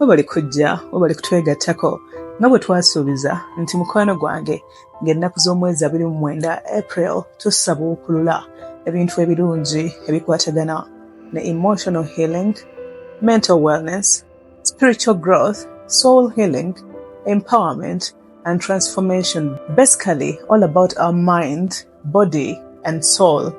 webale kujja webale kutwegattako nga bwe twasuubiza nti mukwano gwange ng'ennaku z'omwezi abiri mu mwenda april tusabuukulula ebintu ebirungi ebikwatagana ne emotional healing mental wellness spiritual growth soul healing empowerment and transformation basically all about our mind body and soul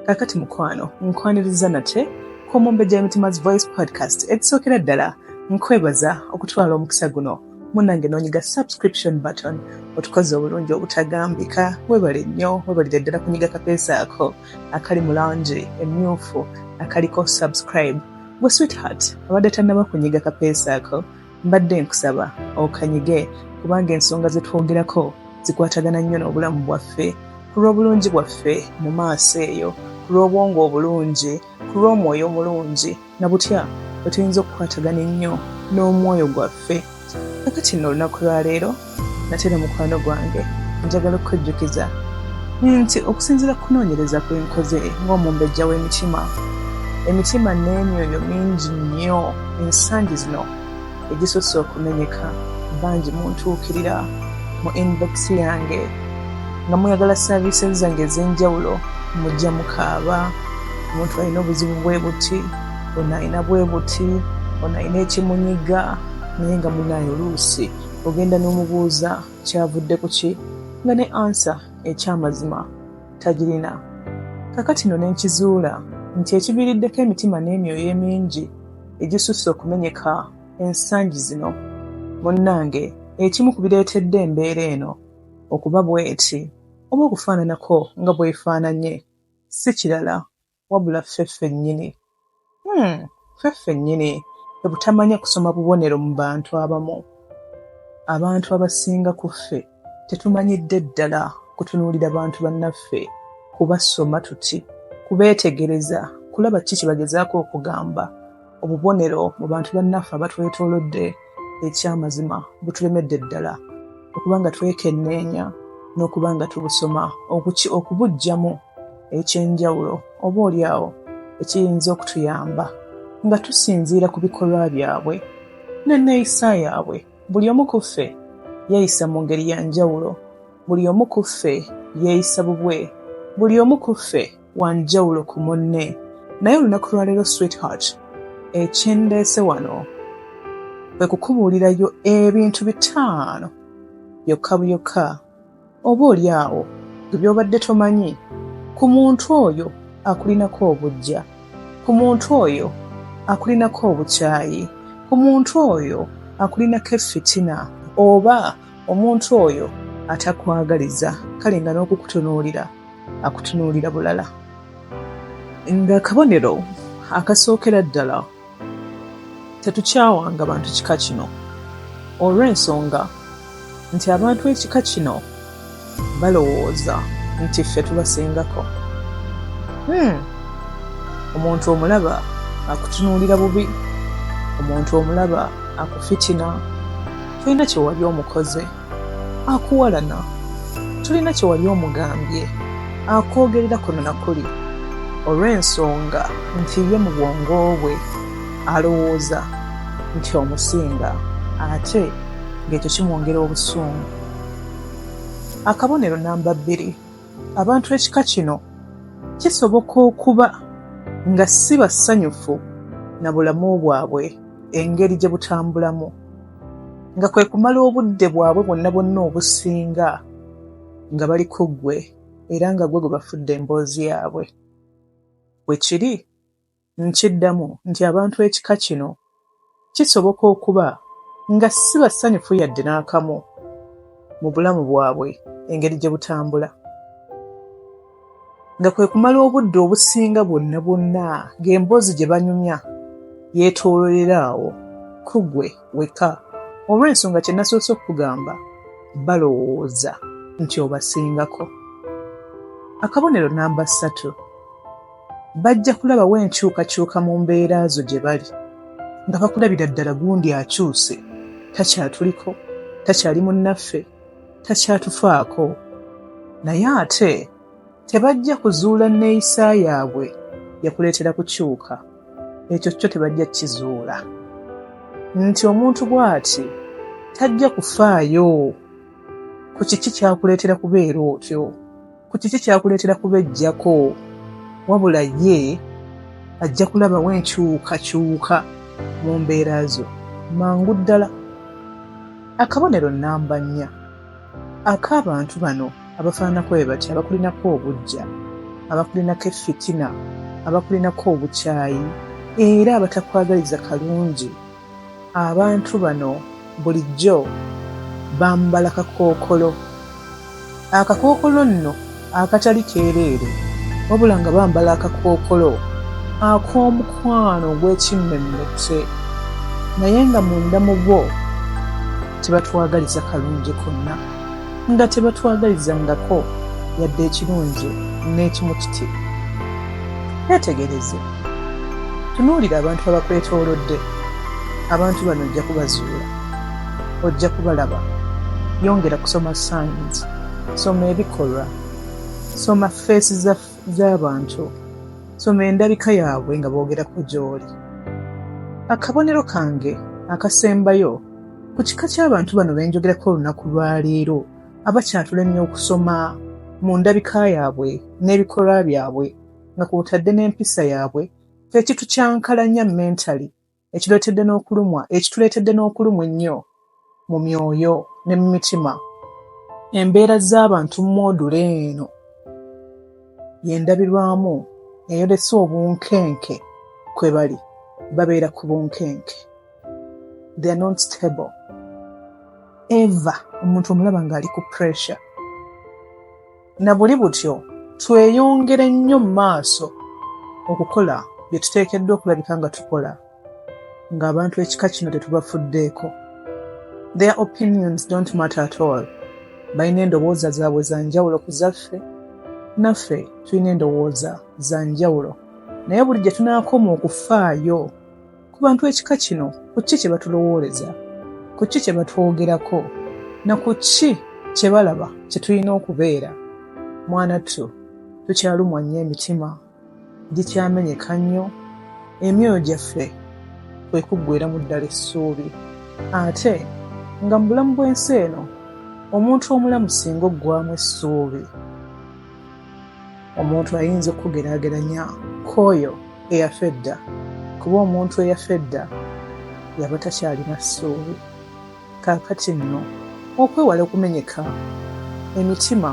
kakati mukwano nkwaniriza nate ku mumbejja emitima's voice podcast ekisookera ddala nkwebaza okutwala omukisa guno munange nonyiga subscription button otukoze obulungi obutagambika webale nnyo webalire ddala kunyiga kapeesa ako akali mu langi emyufu akaliko subscribe gwe sweetheart abadde tannaba kunyiga kapeesa ako Mbadde nkusaba okanyige kubanga ensonga ze twogerako zikwatagana nnyo n'obulamu bwaffe, ku lw'obulungi bwaffe mu maaso eyo, ku lw'obwongo obulungi, ku lw'omwoyo omulungi na butya bwe tuyinza okukwatagana ennyo n'omwoyo gwaffe. Kakati nno olunaku lwa leero nate ne mukwano gwange njagala okukujjukiza nti okusinziira ku kunoonyereza kwe nkoze ng'omumbejja w'emitima emitima n'emyoyo mingi nnyo ensangi zino egisusse okumenyeka bangi muntuukirira mu inbox yange nga muyagala saaviisi zange ez'enjawulo mujja mukaaba omuntu alina obuzibu bwe buti ono alina bwe buti ono alina ekimunyiga naye nga munaye oluusi ogenda n'omubuuza kyavudde ku ki nga ne ansa ekyamazima tagirina. Kakati no nenkizuula nti ekiviriddeko emitima n'emyoyo emingi egisusse okumenyeka ensangi zino munnange ekimu ku bireetedde embeera eno okuba bweti oba okufaananako nga bwefaananye si kirala wabula ffe ffennyini hmm, ffe ffennyini ebutamanya kusoma bubonero mu bantu abamu abantu abasinga ku ffe tetumanyidde ddala kutunuulira bantu bannaffe kubasoma tuti kubeetegereza kulaba ki kye bagezaako okugamba obubonero mu bantu bannaffe abatwetoolodde ekyamazima butulemedde ddala okuba nga twekenneenya n'okuba nga tubusoma okubujjamu eky'enjawulo oba oli awo ekiyinza okutuyamba nga tusinziira ku bikolwa byabwe n'enneeyisa yaabwe buli omu ku ffe yeeyisa mu ngeri ya njawulo buli omu ku ffe yeeyisa bubwe buli omu ku ffe wanjawulo ku munne naye olunaku lwaleero sweetheart ekindeese wano kwe kukubuulirayo ebintu bitaano byokka byokka oba oli awo ge byobadde tomanyi ku muntu oyo akulinako obujja ku muntu oyo akulinako obukyayi ku muntu oyo akulinako effitina oba omuntu oyo atakwagaliza kale nga n'okukutunuulira akutunuulira bulala ng'akabonero akasookera ddala tetukyawanga bantu kika kino olw'ensonga nti abantu ekika kino balowooza nti ffe tubasingako hmm. omuntu omulaba akutunuulira bubi omuntu omulaba akufitina tulina kyewali omukoze akuwalana tulina kyewali omugambye akwogerera kuno nakuli olw'ensonga nti ye mu bwongo bwe alowooza nti omusinga ate ng'ekyo kimwongera obusungu Akabonero namba bbiri, abantu ekika kino kisoboka okuba nga si basanyufu na bulamu bwabwe engeri gye butambulamu, nga kwe kumala obudde bwabwe bwonna bwonna obusinga nga bali ku ggwe era nga ggwe gwe bafudde emboozi yaabwe. Bwe kiri. Nkiddamu nti abantu ekika kino kisoboka okuba nga si basanyufu yadde n'akamu mu bulamu bwabwe engeri gye butambula, nga kwe kumala obudde obusinga bwonna bwonna ng'emboozi gye banyumya yeetoololera awo ku ggwe wekka olw'ensonga kye nasoose okukugamba, balowooza nti obasingako. Akabonero nnamba ssatu. bajja kulabawo enkyukakyuka mu mbeera zo gye bali nga bakulabira ddala gundi akyuse takyatuliko takyali munnaffe takyatufaako naye ate tebajja kuzuula nneeyisa yaabwe yakuleetera kukyuka ekyo kyo tebajja kizuula nti omuntu bw'ati tajja kufaayo ku kiki kyakuleetera kubeera otyo ku kiki kyakuleetera kubejjako wabula ye ajja kulabawo enkyukakyuka mu mbeera zo mangu ddala akabonero nnamba nnya ak'abantu bano abafaananako be batya abakulinako obujja abakulinako effitina abakulinako obukyayi era abatakwagaliza kalungi Abantu bano bulijjo bambala kakookolo. Akakookolo nno akatali keereere wabula nga bambala akakookolo ak'omukwano ogw'ekimmemmette naye nga munda mu bo tebatwagaliza kalungi konna. nga tebatwagalizangako yadde ekirungi n'ekimu kiti netegereze tunuulira abantu abakwetoolodde abantu bano ojja kubazuula ojja kubalaba yongera kusoma signs soma ebikolwa soma feesi z'abantu soma endabika yaabwe nga boogerako gy'oli akabonero kange akasembayo Ku kika ky'abantu bano be njogerako olunaku lwa leero abakyatulemye okusoma mu ndabika yaabwe n'ebikolwa byabwe nga kwotadde n'empisa yaabwe kye kitukyankalanya mentally ekireetedde n'okulumwa ekituleetedde n'okulumwa ennyo mu myoyo ne mu mitima embeera z'abantu mu moodule eno y'endabirwamu eyolesa obunkenke kwe bali babeera ku bunkenke. they're not stable ever omuntu omulaba ng'ali ku pressure na buli butyo tweyongere nnyo mu maaso okukola bye tuteekeddwa okulabika nga tukola ng'abantu ekika kino tetubafuddeeko their opinions don't matter at all balina endowooza zaabwe za njawulo ku zaffe naffe tulina endowooza za njawulo naye buli gye tunaakoma okufaayo ku bantu ekika kino ku ki kye batulowooleza ku ki kye batwogerako na ku ki kye balaba kye tulina okubeera mwana ttu tukyalumwa nnyo emitima gikyamenyeka nnyo emyoyo gyaffe kwe kuggwera mu ddala essuubi ate nga mu bulamu bw'ensi eno omuntu omulamu singa oggwamu essuubi omuntu ayinza okugeraageranya k'oyo eyafa edda kuba omuntu eyafa edda yaba takyalina ssuubi kaakati nno okwewala okumenyeka emitima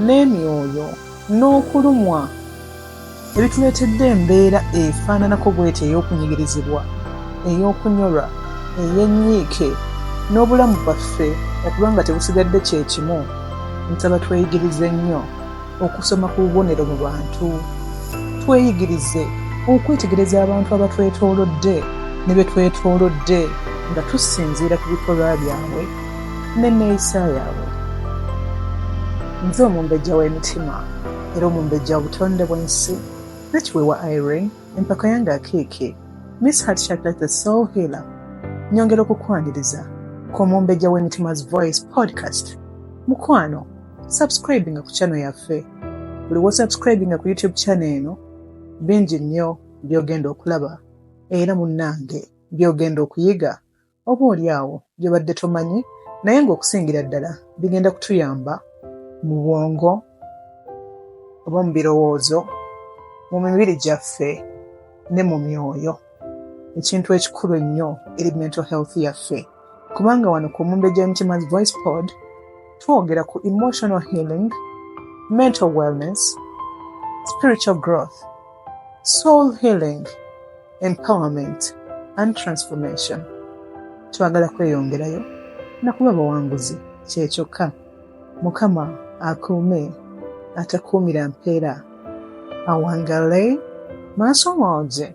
n'emyoyo n'okulumwa ebituleetedde embeera efaananako bweti ey'okunyigirizibwa ey'okunyolwa ey'ennyiike n'obulamu bwaffe okuba nga tebusigadde kye kimu nsaba tweyigirize nnyo okusoma ku bubonero mu bantu tweyigirize okwetegereza abantu abatwetoolodde ne be twetoolodde nga tusinziira ku bikolwa byabwe n'enneeyisa yaabwe nze omumbejja w'emitima era omumbejja obutonde bwensi nakiwewa irene empaka yange akeeke miss heart chocolate the soul healer nyongera okukwaniriza ku omumbejja w'emitima's voice podcast mukwano subscribinga ku channel yaffe buli wosubscribinga ku youtube channel eno bingi nnyo byogenda okulaba era munnange byogenda okuyiga oba oli awo by'obadde tomanyi naye ng'okusingira ddala bigenda kutuyamba mu bwongo oba mu birowoozo mu mibiri gyaffe ne mu myoyo ekintu ekikulu ennyo eri mental health yaffe kubanga wano ku mumbejja emitima voice pod twogera ku emotional healing mental wellness spiritual growth soul healing empowerment and transformation twagala kweyongerayo nakuba abawanguzi kyekyokka mukama akuume atakuumira mpeera awangale maaso mooje